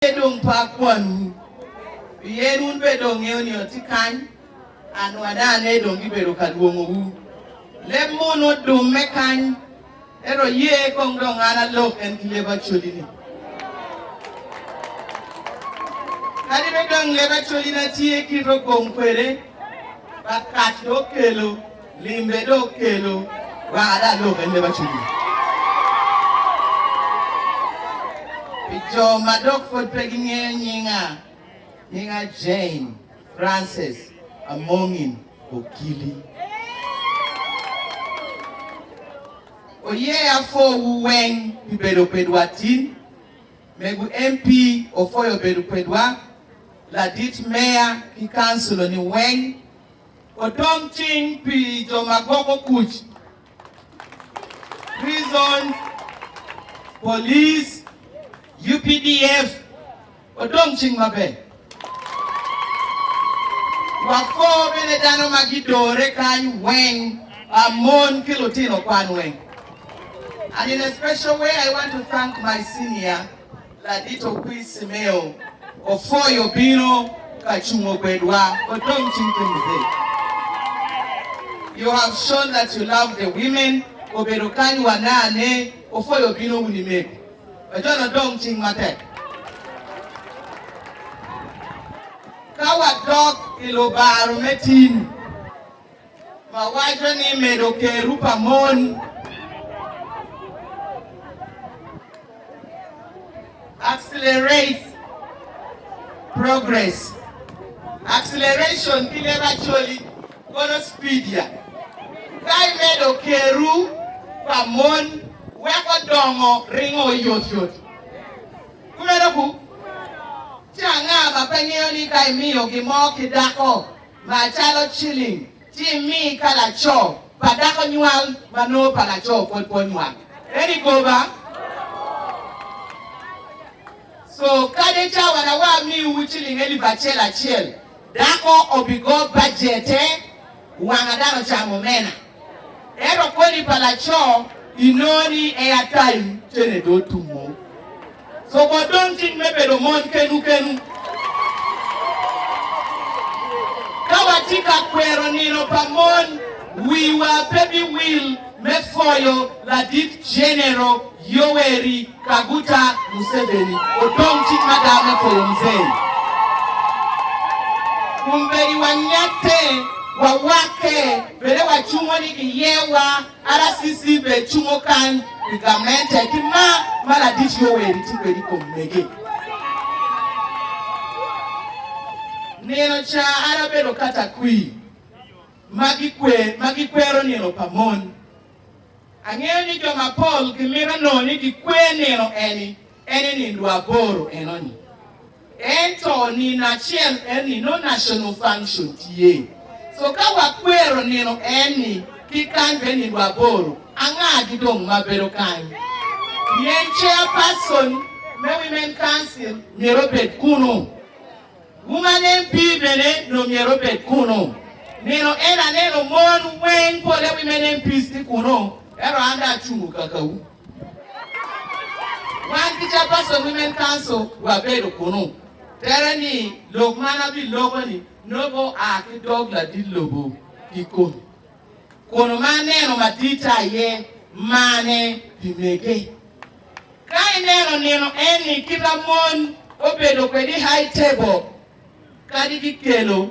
Pe dong pe akwanwu, pien wun bene dong wungeyo ni atye kany, anwanane dong gibedo ka lwongowu. Leb mo onongo dumme kany, ento aye kong dong an alok en ki leb acoli-ni. Kadi bed dong leb acolina tye kit ogom kwede, Bakaj dong okelo. Limbe dok kelo wek ada lok en leba cwinyi. Pi jo ma dok pud pe gingeyo nyinga, nyinga Jane Frances Amongin Okili. Oyeya pwowu weng pi bedo kwedwa tin. Mego MP opwoyo bedo kwedwa, ladit meya ki kanculoni weng Odong cing pi jo ma gwoko kuc, prison, police, UPDF odong cing maber. Wako bene dano ma gidore kany weng, ba mon ki lutino kwan weng. And in a special way I want to thank my senior, Ladito kwir Cimeo opwoyo obino ka cungo kwedwa odong cing Timothy you have shown that you love the women obedo kany wa ne ane opwoyo obino wun imego ojono odong cing matek ka wadok ilubaro me tim. ma waco ni medo keru pa mon accelerates progress. Acceleration ki leb Acholi kono speed ya. Ka imedo keru pa mon weko dongo ringo yot yot. Kumeno ku? Ci anga ma pe ngeyo ni ka imiyo gin mo ki dako Macalo ciling, ci imi ka laco pa dako nywal ma nongo pa laco pwod pe onywal. Eni goba. So, kadi i cawa na wa amiwu ciling elip acel acel, dako obigo bajete, wanga dano camo omena. Ento kodi pa laco inongo ni en atai cene do otumo. So wa dong cik me bedo mon kenwu kenwu. Ka watye ka kwero nino pa mon, wiwa pe biwil me pwoyo Ladit Genero Yoweri Kaguta Museveni odong cik mada me pwoyo Mzee. Kombeddi wanyatte, wawakke. Bene wacungo ni iyewa, RCC bene cungo kany pi gamente ki mar ma ladic yo weri tye kwede i kom mege. Nino ca an abedo katakwir ma gikwer ma gikwero nino pa mon. Angeyo ni jo mapol gimito nongo ni gikwer nino eni En i nindo aboro enoni. Ento nino acel enoni nongo national function tye. So ka wakwero nino enoni ki kany bene nindo aboro, anga gidong ma bedo kany? Pien chairperson me Women Council myero obed kunu. Woman MP bene nongo myero obed kunu. Nino eno aneno mon weng polle women MPs tye kunu, ento an dong acungo kakawu. Wan ki Chairperson Women Council wabedo kunu. Tere ni lok man abiloko-ni nongo oa ki dog ladit lobo kikome, kun ma aneno madita aye marne pi mege. Ka ineno nino eni kita mon obedo kwede i High Table kadi kikelo,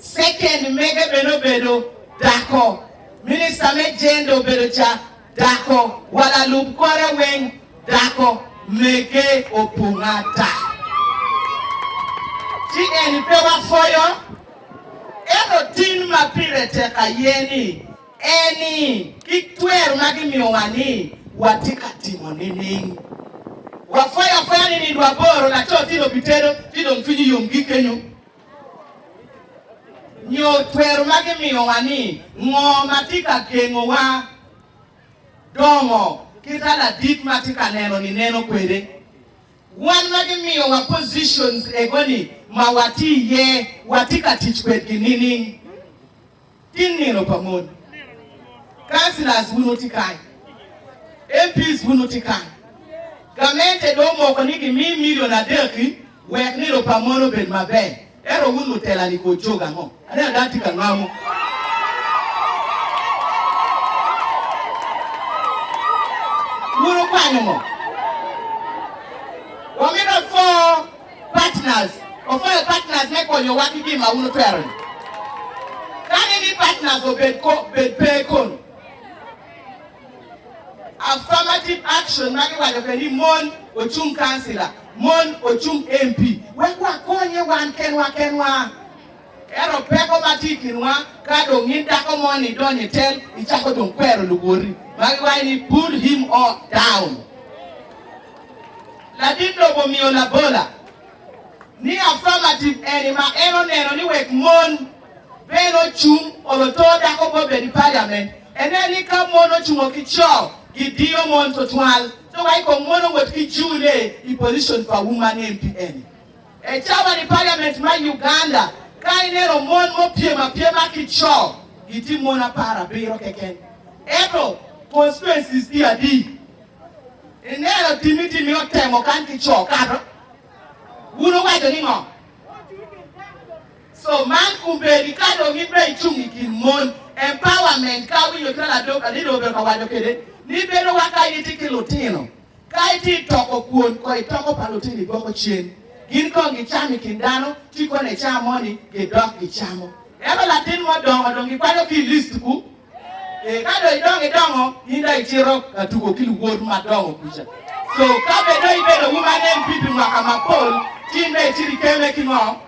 Second mege bene obedo dako. Minista me Jenda obedo ca dako. Wa lalub kore weng dako. Mege opong ata. Ci eni pe wapwoyo. Ento tin ma pire tek aye ni eni ki twer ma gimiyowa ni watye ka timo nining? Wapwoyo apwoya ni nindo aboro laco tin obitedo ci dong cwinyi yom gikenyo. Nyo twero ma gimiyowa ni ngo ma tye ka gengowa dongo kita ladit ma tye ka neno ni neno kwede. Wan ma gimiyowa positions ego ni ma watye iye watye ka tic kwedgi nining? Tin nino pa mon. Councillors wun wutye kany, MPs wun wutye kany. Gamente dong omoko ni gimi million adek-ki wek nino pa mon obed maber, ento wun lutela-ni kor cogo ango? Aneno dano tye ka ngamo. Wun wukwanyo ngo? Wamito afo. Partners, Offer partners me konyowa ki gin ma wun wutwero-ni. Kani ni partners obed ko, bed pe kono. Affirmative action ma giwaco kwede ni mon ocung kancila, mon ocung MP, wek wakonye wan kenwa kenwa. Ento peko ma tye i kinwa, ka dong in dako moni idonyo i tel, icako dong kwero luwoti ma giwaco ni, Pull him o down. Ladit lobo omiyo labola ni affirmative eni ma en oneno ni wek mon bene ocung oloto dako pe obed i paliament. Ene ni ka mon ocungo ki co, gidiyo mon twatwal. Dong aye kong mon owot ki june i position pa woman MP eni. E cawa ni parliament ma Uganda ka ineno mon mopyem apyema ki co gitye mon apar abiro keken eto constituencies tye adi? Ineno timmi timmi otemo kany ki co kato wun uwaco ni ngo? So man kumbeedi ka dong in be icung i kin mon empowerment ka awinyo cwalo adok adidi obedo ka waco kede ni bedo wa ka itye ki lutino Ka itye i toko, kwon kong i toko pa lutini gwoko cen. Gin kong gicam i kin dano, ci kono i caa moni gidok gicamo. Ento latin mo dongo dong gikwanyo ki i list ku. Ee, ka dong idongo idongo, in dong icito ka tuko ki luwot madongo kuca. So, ka bed dong ibedo Woman MP pi mwaka mapol, ci in dong icito ikeme ki ngo?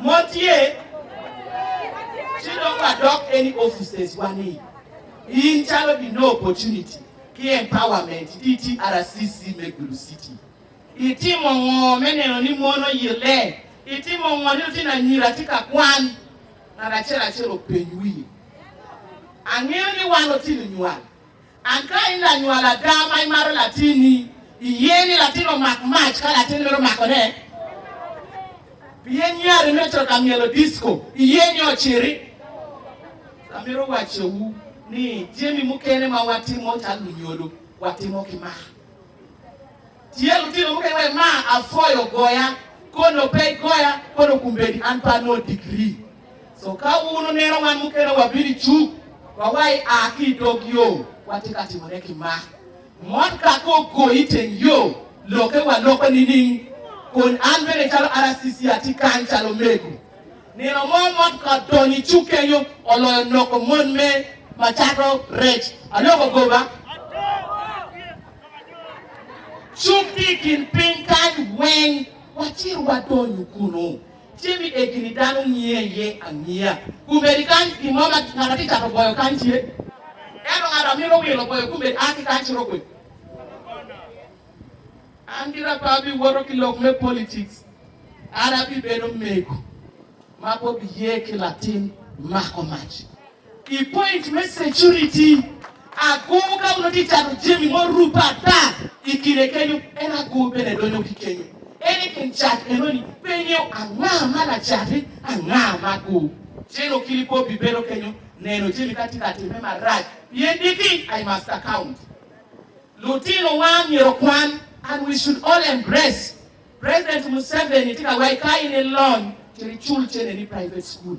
Mo tye, ci dong wadok any offices wa ni in calo di no opportunity ki empowerment di TRCC me Gulu City. I timo ngo me neno ni mon oyille? I timo ngo ni lutino anyira tye ka kwan? Ngat acel acel openy wiye. Angeyo ni wan lutino nywal An ka in lanywal ada ma imato latinni, iye ni latin omak mac ka latin mito makone? Pien nyari me coka myelo disko, iye ni ociti? Amito wacciwu ni jami mukene ma watimo calo lunyolo, watimo ki mar. Tye lutino mukene ma ma apwoyo goya kono pe goya kono kumbedi an pe anongo degree so ka wun wuneno wan mukene wabino i cuk wa wa i a ki i dog yo watye ka timo ne ki mak mot kaka ogoyi i teng yo loke wa loko nining kun an bene calo RCC atye kany calo mego nino mo mot ka odonyo i cuk kenyo oloyo noko mon me ma cato rec aloko goba. Cung ki i kin piny kany weng, wacit wadonyu kunnu. Tye mi eggi ni dano ngiye iye angiya. Kombeddi kany gin mo ma ngat ma tye cato boyo kany tye. Ento ngat ma mito wilo boyo kombeddi a ki kany ci rok kwede. An gira pe abiwoto ki lok me politics. An abibedo mego ma bobiye ki latin mako mac. I point me security, agur ka onongo tye cato jami murupe ata i kine kenyo, en agur bene donyo ki kenyo. En i kin cat enoni pe ingeyo anga ma lacati, anga ma agur. Cen okili pe obibedo kenyo neno jami ka tye ka timme marac, pien diki I must account. Lutinowa myero okwan and we should all embrace President Museveni tye ka waco ka in ilony, myero icul cene ni private school.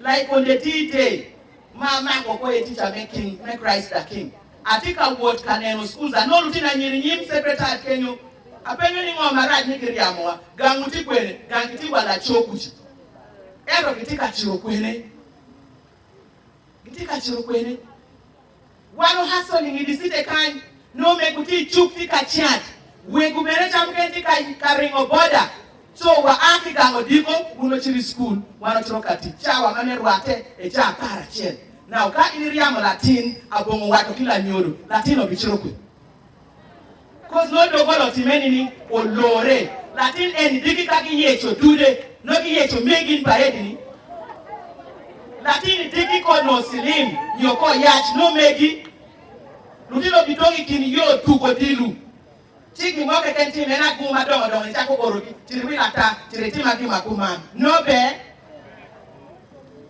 Like konde ti ite ma amako ko aye teacher me king me Christ the king. Atye ka wot ka neno schools anongo lutino anyira inyim secretariat kenyo. Apenyo ni ngo marac ni giryamowa? Gang wuti kwene? Gang kitye wa laco kuca. Ento kitye ka ciro kwene? Gitye ka ciro kwene? Wan o hustle i ngidi city kany nyo omego tye icuk tye ka chat wego bene cam kene tye ka ringo boda so wa a ki gang odiko wun ocito i school wan ocito ka tic cawa ma me rwate e ca apar acel now ka in iryamo latin abongo waco ki lanyodo latin obicito kwi Koc nongo doggola otimme nining? Olore. Latin eni diki ka giyeco dude, nongo giyeco me gin pa edini. Latin-ni diki ko nongo cilim nyo ko yac, nongo megi. Lutino gidong i kin yo tugo odilo, ci gin mo keken tim en agur madongo dongo icako orogi, cito iwil ata, cito itima gin ma kuman. Nongo pe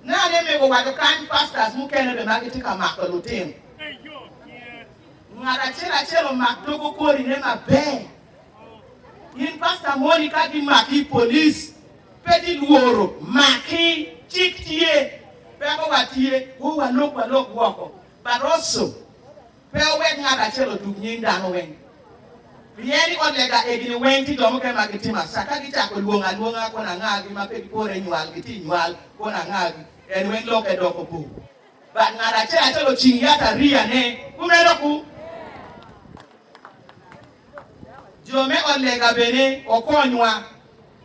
nane mego wat okany pastors mukene bene ma gitye ka mako lutino. Ngat acel acel omak togo kori ne maber. In pasta moni ka gi maki i police pe ti lworo maki cik tye peko wa tye wo wa lok wa lok woko but also pe owek ngat acel otuk nying dano weng pien i ot lega egini weng ti jo mukene ma gi timo asa ka gi cako lwongo alwonga kono anga gi ma pe gi pore nywal gi ti nywal kono anga gi en weng loke doko bor. Bad ngat acel acel ocing yat ariyane. Kumeno ku. Jo me ot lega bene okonywa.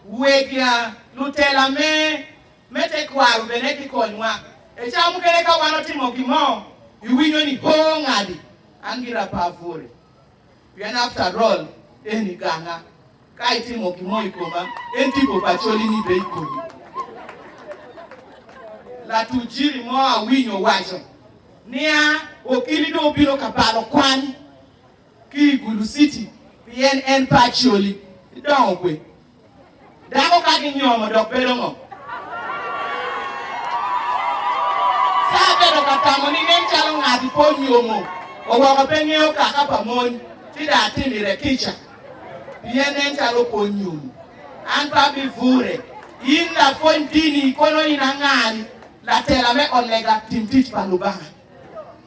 Wega lutela me me tekwaro bene gikonywa. I cawa mukene ka wan otimo gin mo, iwinyo ni hoo ngadi, an gira pe apwori. Pien after all eni ganga, ka itimo gin mo i koma, en tipo pa coli ni bed i komi. Latujiri mo awinyo owaco nia okini dong obino ka balo kwan ki i Gulu City pien en pe acoli, idongo gwe Dako ka ginyomo dok bedo ngo? Sara bedo ka tamo ni nen calo ngat-ti pe onyomo wa woko pe ngeyo kaka pa mony ci dong atimire kica pien nen calo pe onyomo. An pe abivure. In lapwony dini, kono in anga-ni? Latela me ot lega, tim tic pa Lubanga.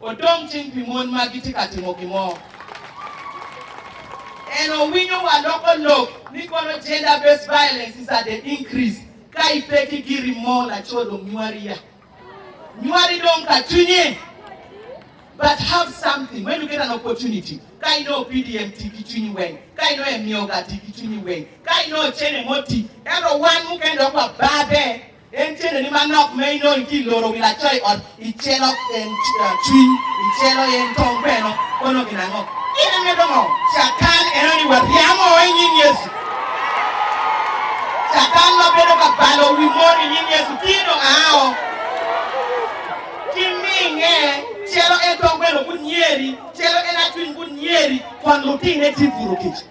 odong cing pi mon ma gitye ka timo gin mo. En owinyo wa loko lok ni kono gender based violence is at the increase ka ipe ki giri mo laco dong nywari ya nywari dong ka cwinye but have something when you get an opportunity ka inongo PDM ti ki cwinyi weng ka inongo emioga ti ki cwinyi weng ka inongo cene mo ti ento wan mukene dok wa babe En tyene ni manok ma inongo itye i loro wi laco i ot, icelo en cwiny, icelo en tong bene, kono gin ango? Gin ame dong oo. Catan eno ni waryamo i nying Yecu. Catan ma bedo ka balo wi mon i nying Yecu tye dong aa oo. Kiminge, celo en tong bene ogut nyeri, celo en acwiny ogut nyeri, kwon lutinne tye puro kic.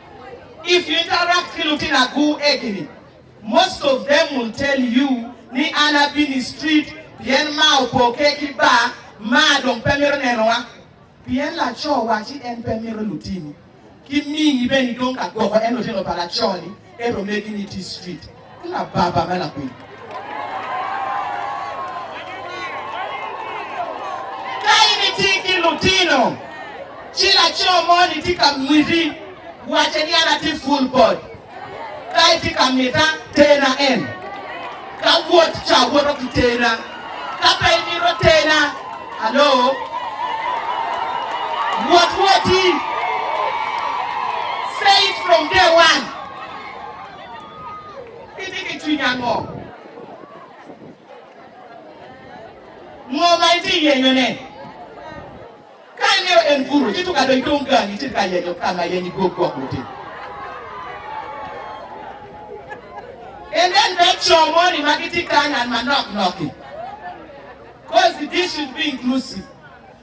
If you interact ki lutino agu egini, most of them will tell you ni an abino i street pien ma opo ke ki ba ma dong pe mito nenowa. Pien laco wacci en pe mito lutini ki mingi bene idong ka gwoko en lutino pa laco-ni ento omegi ni itye i street. ki lababa me lapiny. Ka in itye ki lutino ci laco moni tye ka miti wacce ni an atye ful body, ka itye ka mita, terna en. Ka wot ca woto ki terna, ka pe imito terna, alo, wot woti. Say it from day one. Itye ki cwiny ango? Ngo ma itye ka yenyone? Ka ingeyo en gudo, ci tuk adony dong gangi ci tika yenyo ka ma yenyo igwok gwok lutim. And then bed co moni ma gitye kany and manok nok-ki. Cause this should be inclusive.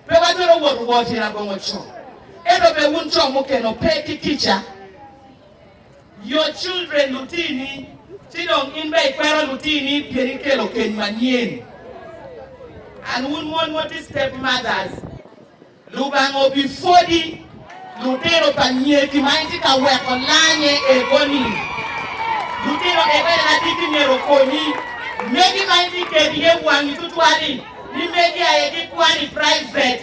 Pe watwero wot owo tyen abongo co. Ento be wun co mukene ope ki kica. Your children lutini, ci dong in bene ikwero lutini pien ikelo keny manyen. And wun mon ma wutye step mothers, Lubanga obipwodi lutino pa nyeki ma itye ka weko lanye ego-ni. Lutino ego en agikki myero okonyi. Megi ma itye kegi iye wangi tutwal-li ni megi aye gikwano i private.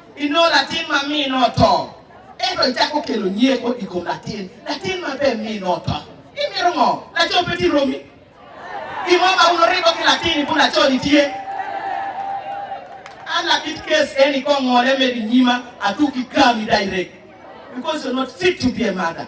i nongo latin ma mine oto, ento icako kelo nyeko i kom latin, latin ma pe mine oto, imito ngo? Laco pe tye romi? Gin mo ma wun oribo ki latin i bwo laco-ni tye? An lakit case eni i kong ngole medo i nyima, atuki kami direct because you're not fit to be a mother.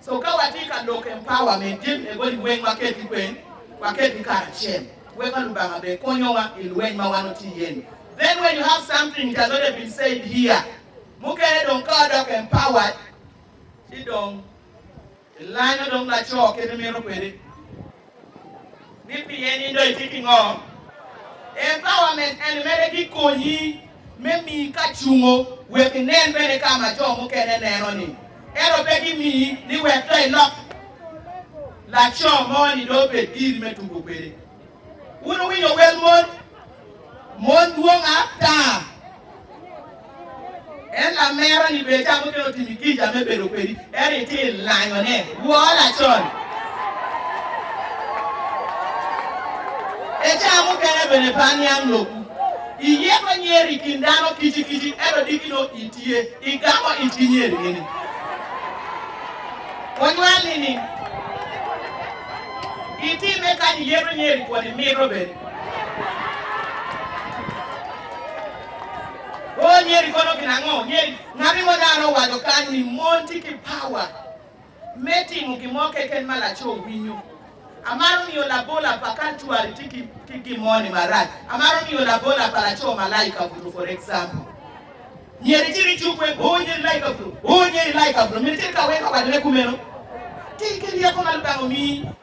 So ka watye ka lok empower me din me body weng waket ikweng waket gi karacel weka lubanga be konyowa ilweny ma wan watye iye ni then when you have something it has already been said here mukene dong ka wadok empowered ci dong ilanyo dong laco kit imito kwede. ni pien in dong itye ki ngo. Empower ment eni mere bi konyi me mii ka cungo wek inen bene ka ma jo mukene neno ni, ento pe ki mii ni wek dong ilok laco mo ni dong obed giri me tugo kwede. Wun wuwinyo wel mon? Mon dwong ata en lamera ni bed ca mukene otimi kica me bedo kwedi, ento itye ilanyone woo lacon. E ca mukene bene pe aniang lokwu. Iyeko nyer i kin dano kici kici, ento diki no itye igamo it ki nyer nining? Onywal nining? Itime kany iyeko nyer i kwoni mito bene. Oh nyeri kono gin ango nyeri. Ngati mo dano owaco kany ni mon tye ki power me timo gin mo keken ma laco winyo. Amaro nio labola pa ka cwari tye ki gin mo ni marac. Amaro nio labola pa laco malaika buto for example nyeri cito icuk weng oh nyeri laika buto oh nyeri laika buto miti cito ka weko wadine kumeno. Ti ki ryeko ma lubanga omii.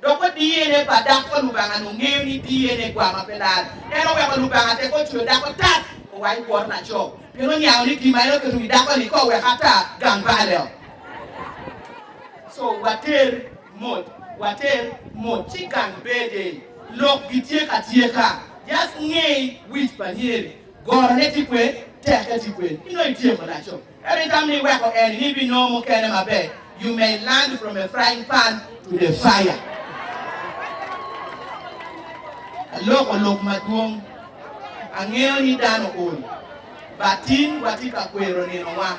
Dok wa DNA pa dako pa Lubanga ni ongeyo ni DNA gwama pe lal. En oweko Lubanga teko ocweyo dako tat oa i kwor laco, pien oniango ni gin ma en oketo i wi dako ni ka oweke ata gang baleo. So water mot, water mot ci gang bede. Lok gitye ka tyeka. Just ngey wic pa nyeri, gorone ti kwen, teke ti kwen, inongo ityeko laco. Every time ni weko en ni bi nongo mukene maber, you may land from a frying pan to the fire. Aloko lok madwong, angeyo ni dano ol, but tin watye ka kwero ninowa.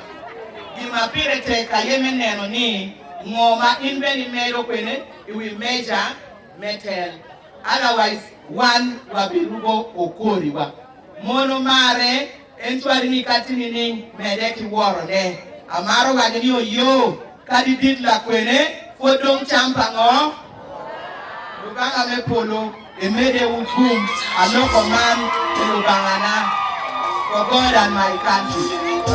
Gin ma pire tek aye me neno ni ngo ma in bene imedo kwene i wi meja me tel, otherwise wan wabiruko okoriwa. Mono marre En cwali mikati nining? Mede ki worone. Amaro waco ni oyoo, kadi dit lakwene, pwod dong cam pa ngo? Lubanga me polo, emede wu gum, aloko man pi Lubangana, for God and my country.